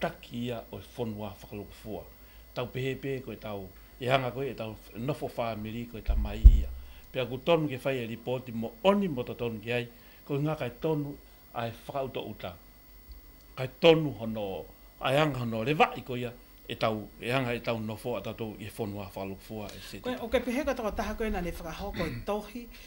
Taki ia o e whonua whakalopo foa. Tau pehepehe koe tau e hanga koe e tau nofo whaamiri koe ta mai ia. Pea ku tonu ke whai e ripoti mo oni mo ta tonu ki ai koe nga kai tonu ae whakauta uta. Kai tonu hono ae hanga hono revai ko ia e tau e hanga e tau nofo a tatou i e whonua whakalopo foa, etc. Koe, ok pehea katoa taha koe nane whakahau koe tohi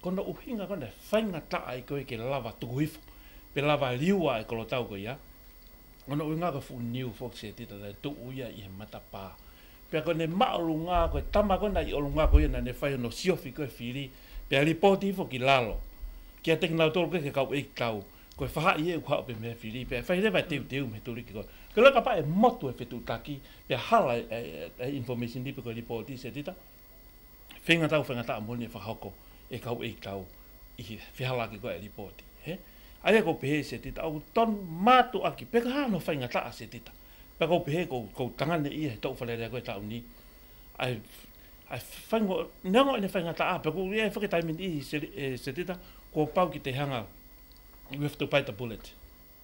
Kona uhinga kona whainga taa i koe ke lawa tuku hifo, pe lawa liua e kolo tau koe ia. Kona uhinga koe fu niu fo kse tita na tu u ia i he mata pa. Pea koe ne ma olu nga koe tama kona i olu nga koe ia na ne whai ono siofi koe firi, pea ripoti fo ki lalo. Kia te kina tolu koe ke kau eik tau, koe faha i e u hao pe me firi, pea e whai rewa e teu teu me turi ki koe. Ke loka pa e motu e fetu taki, pea hala e information ripe koe ripoti se tita. Whenga tau, whenga tau moni e whakahoko e kau ei tau i whiha la ki koe e ripoti. He? Aia ko pehe se tita au tonu matu aki peka ha no whenga taa se tita. Pea ko pehe ko kou tanga ne ia he tou whalerea koe tau ni. Ai ai whengo nengo ene whenga taa pea ko ia e whaketaimini i se tita kua pau ki te hanga we have to bite the bullet.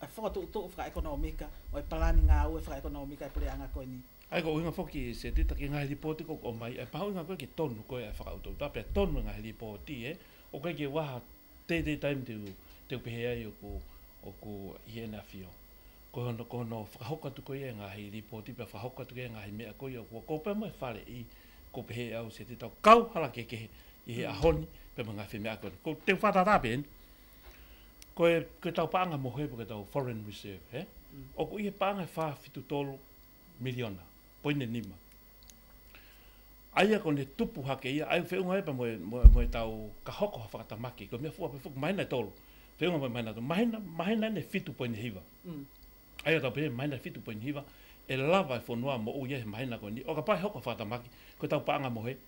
I whakatoʻotoʻo whakaekonomika, i palani ngā aue whakaekonomika e purea ana koe nei. I ka uinga hoki i Seti, taki ngahere ripōti ko koe mai, e pahauinga koe ke tonu koe e whakautautā pea tonu e ngahere ripōti e, o koe ke waha teitei taim te ū, te upehe ai oku, oku hiena whio. Ko hono, ko hono whakahoka atu koe ia e ngahere ripōti pea whakahoka atu koe ia e ngahere mea koe ia, kua kōpē mai whare i, ko pehe au Seti tau kau harakekehe i he a Honi pea me ngahere mea koe nei. Ko te whata rā Ben, Koe, koe tau paanga moho he koe tau foreign reserve he. O kui he paanga he wha fitu tolu miliona, poine nima. Aia koe ne tupu hake ia, ai whee unga epa moe, moe, moe tau ka hoko ha whakata maki, koe mea fua pe fuku maina e tolu. Whee unga moe maina tolu, maina, maina ne fitu poine hiva. Aia tau pere maina fitu poine hiva, e lava e whonua mo uia he maina koe ni, o ka pae hoko whakata maki, koe tau paanga moho he.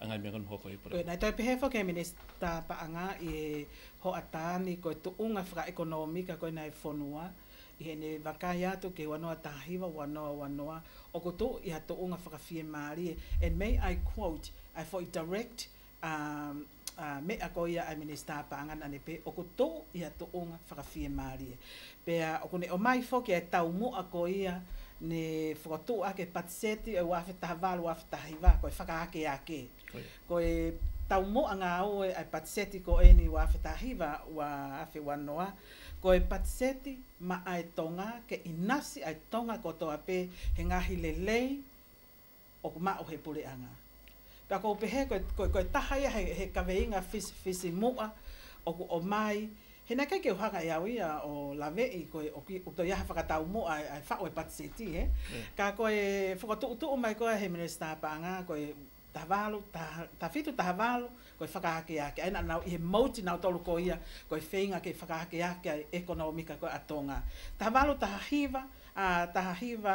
a ngā mea ka noho koe i parau. Pēnei tau Pehefo kei Minista Paanga i Hoatani koe tuunga whakaekonomika koina e whonua i hēnei wa kai atu kei wanoa tahiwa wanoa wanoa o ko tou iha tuunga whakawhie mārie and may I quote I for i direct a a mea koia a Minista Paanga nane pe o ko tou iha tuunga whakawhie mārie Pea, o konei o mai foki e tau moa ko ia ne whakatoo ake patiseti au awhe taha wa lu awhe taha hiwa koe whakaake ake koe tau moa nga oe ai patiseti ko eni wa awhe taha hiwa wa awhe wa noa koe patiseti ma ai tonga ke inasi ai tonga ko toa pe he ngahi lelei o ko māu he pureanga. Pea ko pehea koe, koe taha ia he kaweinga whisi moa o ko o māi, he neke kei hanga e au ia o Lave'i koe o ki toi aha whakatau moa e whao e Patseti he, ka koe whakatu'utu'u mai koe he Minista pānga koe taha wālu, taha whitu, taha wālu, koe whakahake ake ai na nau i he mouti nau tolu ko ia koe wheinga kei whakahake ake ai ekonomika koe a Tonga. Taha wālu taha hiwa, a taha hiwa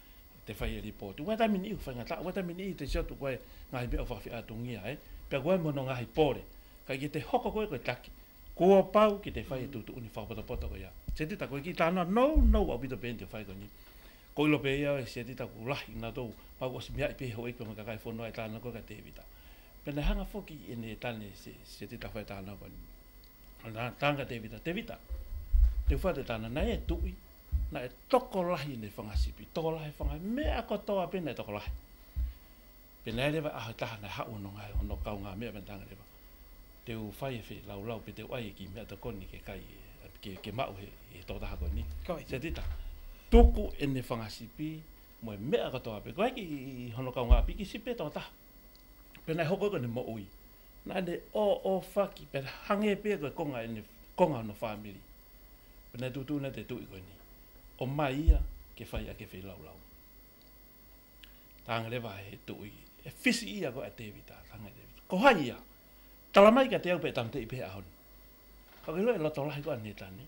te whai e ripo tu wata mini u whanga ta wata mini te sio tu koe ngai be ofa fia tu ngi ai pe koe mo no ngai pore ka ki te hoko koe koe tak ko pau ki te whai tu tu ni fa poto poto ko ya se te ta koe ki ta na no no wa bito ben te whai ko ni ko lo pe ya se te ta ku la i na to pa ko si mia pe ho i ko ka kai fo no e ta na ko ka te vita pe na hanga foki e ne ta ne se se te ta whai ta na ko ni Nga tanga te vita, te vita. Te wha te tana na e tui, na e tokolahi ne whangasipi, tokolahi whanga, mea ko toa pena e tokolahi. Pena e rewa aho taha na hau no nga, no kau nga mea pena tanga rewa. Te u whai e whi, lau lau pe te uai e ki mea to koni ke kai, ke, ke mau he, he to taha koni. Se tita. Tuku e ne whangasipi, mo e mea ko toa pe, koe ki hono kau nga piki sipe to taha. Pena e hoko koe ne mo ui. Nane o o faki pe hange pia koe konga e ne konga ono family. Pena e tutu ne te tui koe ni. O mai ia ke fai ake fei lau lau. Tangrewa he tui e fisi ia koe a Tevi ta tange Tevi. Ko hai ia. Tala mai ka te au pe tamte i pe ahon. Ka wero e loto lahi koe a Neta ne.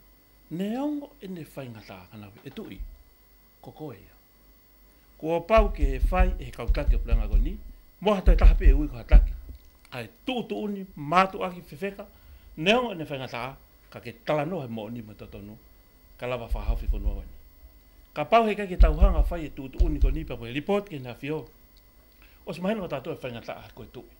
Ne ongo e ne fai ngata kanawe e tui. Kokohia. Ko Opau ke whai e he kau take o Puranga Goni, mo hatai taha pe e ui ko hataki. Ka e tu tu uni mato aki fefeka, neo ene whainga taha, ka ke tala no he mo ni mo totonu, ka lava wha haufi ko noa wani. Ka pau he kai ke tau hanga whai e tu tu uni ko ni pa ko e report ke na fio. Os maheno ka tato e whainga taha ko e tui.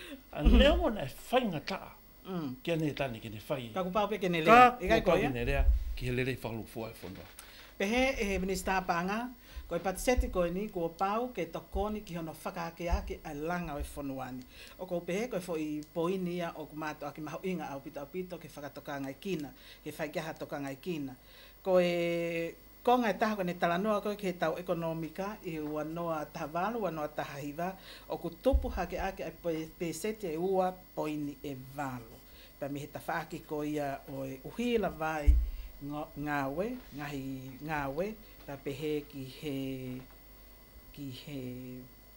A nea mo nei whainga kaa, kia nei tane kene whai i. Ka ku paope kene lea. Ka ku paope kene lea, ki he lerei whakalu foa e whanua. Pehe e he Minister paanga, ko e patiseti koe ni, kua pao ke tokoni ki hono whakaake ake a langa e whanua ni. O kou pehe koe fo i poini ia o ku mato ake maho inga aupito aupito ke whakatokanga e kina, ke whai ki aha tokanga e kina. Ko e. Ko ngā taha kone tara noa koe ki he tau ekonomika i ua noa taha walo, ua noa taha hiwa, oku topu hake ake ai pēseti e ua poini e walo. Kua mihi ta whaaki ko ia oe uhi rawa ai nga we, ngahi nga we, kua pehe ki he, ki he.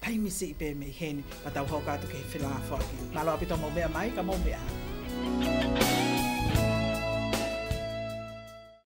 Pay me see, pay me hēni. Ka tau hao kātou kei whenāwha ake. Ngā rawa pito mō mea mai, ka mō mea.